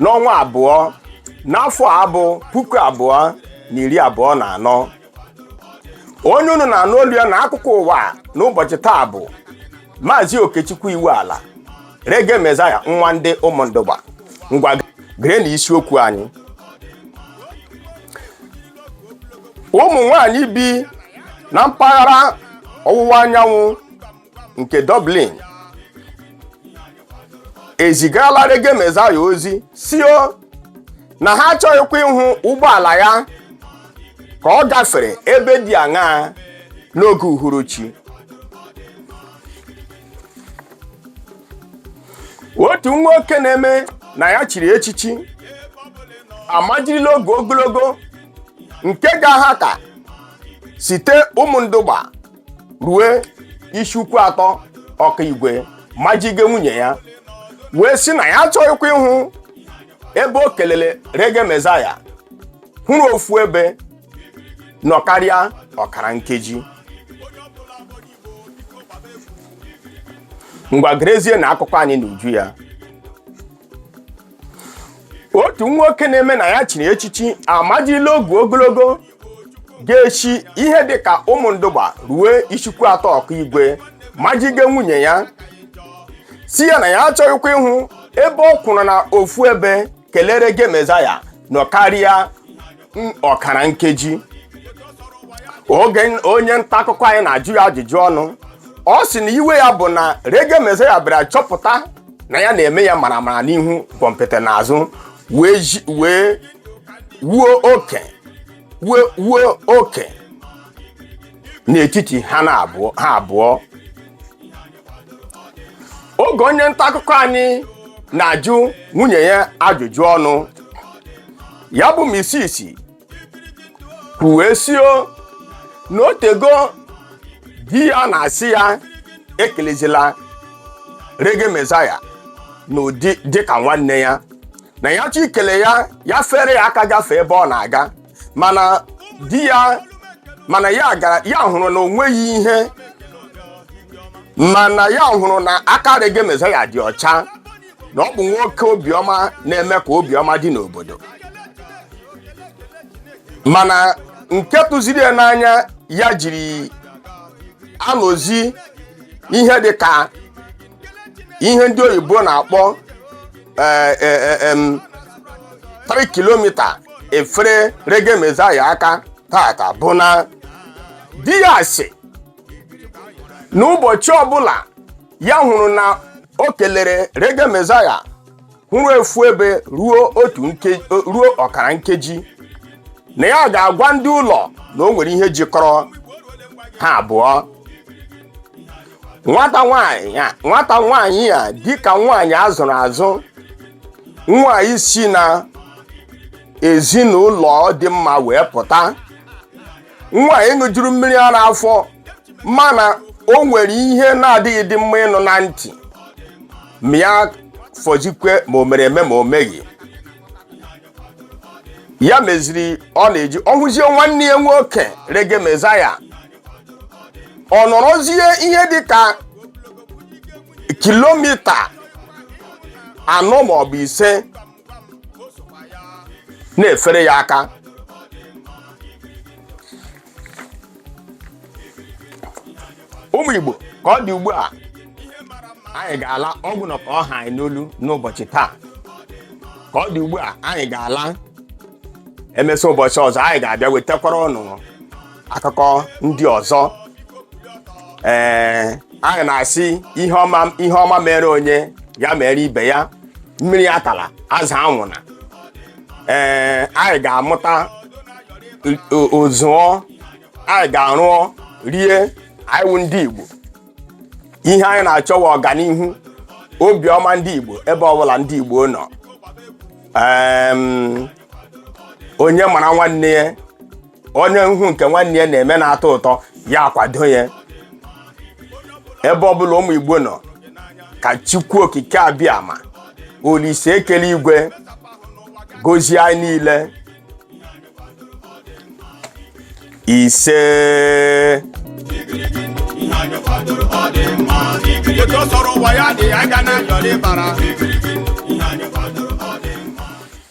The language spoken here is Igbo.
n'ọnwa abụọ n'afọ a bụ puku abụọ na iri abụọ na anọ onye unu na-anụ olu ya na akụkọ ụwa n'ụbọchị taa bụ maazị okechukwu iwuala reggae messiah nwa ndị ụmụndugba ngwa gere na isiokwu anyị ụmụ nwanyị bi na mpaghara ọwụwa anyanwụ nke Dublin ezigala Reggae Messiah ozi sio na ha achọghịkwa ịhụ ụgbọala ya ka ọ gafere ebe dị aṅaa n'oge uhuruchi otu nwoke na-eme na ya chiri echichi amajirila ogu ogologo nke ga-aha ka site Ụmụndugba rue Isuikwuatọ Okigwe majige nwunye ya wee sị na ya achọghịkwa ịhụ ebe o kelele Reggae Messiah kwụrụ ofu ebe nọ karịa ọkara nkeji ngwa gerezie na akụkọ anyị n'uju ya otu nwoke na-eme na ya chiri echichi amajila ogu ogologo ga-eshi ihe dị ka Ụmụndugba ruo Isuikwuatọ Okigwe majige nwunye ya sị ya na ya achọghịkwa ịhụ ebe ọ kwụrụ na ofu ebe kelee Reggae Messiah nọ karịa n- ọkara nkeji oge n- onye nta akụkọ anyị na-ajụ ya ajụjụ ọnụ ọ sị na iwe ya bụ na Reggae Messiah bịara chọpụta na ya na-eme ya maramara n'ihu gwọmpịtị n'azụ wee wuo oke n'etiti ha abụọ oge onye nta akụkọ anyị na-ajụ nwunye ya ajụjụ ọnụ ya bụ Mrs kwuwe sio na o teego di ya na-asị ya ekelezila Reggae Messiah n'ụdị dịka nwanne ya na ya chọ ikele ya ya fere ya aka gafee ebe ọ na-aga mana di ya mana ya hụrụ na o nweghị ihe mana ya hụrụ na aka Reggae Messiah dị ọcha na ọ bụ nwoke obiọma na-eme ka obiọma dị n'obodo mana nke tụziri ya n'anya ya jiri anọzi ihe dị ka ihe ndị oyibo na-akpọ eh, eh, eh, em, 3 kilometer efere Reggae Messiah aka taata bụ na di ya sị na ụbọchị ọbụla ya hụrụ na o kelere Reggae Messiah hụrụ efu ebe ruo otu ruo ọkara nkeji na ya ga-agwa ndị ụlọ na o nwere ihe jikọrọ ha abụọ nwata nwanyị a nwata nwanyị a dịka nwanyị a zụrụ azụ nwanyị si na ezinụlọ dị mma wee pụta nwanyị ṅụjuru mmiri ara afọ mana o nwere ihe na-adịghị dị mma ịnụ na ntị ma ya fọzikwe ma o mere eme ma o meghị ya meziri ọ na-eji ọ hụzie nwanne ya nwoke Reggae Messiah ọ nọrọzie ihe dị ka kilomita anọ maọbụ ise na-efere ya aka ụmụ Igbo ka ọ dị ugbu a anyị ga-ala ọ gwụna ka ọ ha anyị n'olu n'ụbọchị taa ka ọ dị ugbu a anyị ga-ala emesịa ụbọchị ọzọ anyị ga-abịa wetakwara unu akụkọ ndị ọzọ ee anyị na-asị ihe ọma ihe ọma mere onye ya mere ibe ya mmiri atala azụ anwụna ee anyị ga-amụta o- ozụọ anyị ga-arụọ rie anyị wụ ndị Igbo ihe anyị na-achọ wụ ọganihu obiọma ndị Igbo ebe ọbụla ndị Igbo nọ Em, onye mara nwanne ya onye ihe nke nwanne ya na-eme na-atọ ụtọ ya kwado ya ebe ọbụla ụmụ igbo nọ ka Chukwu okike abịama Olise kele igwe gozie anyị niile ise otu ọ sọrọ ụwa ya dị ya ga na-ayọrị bara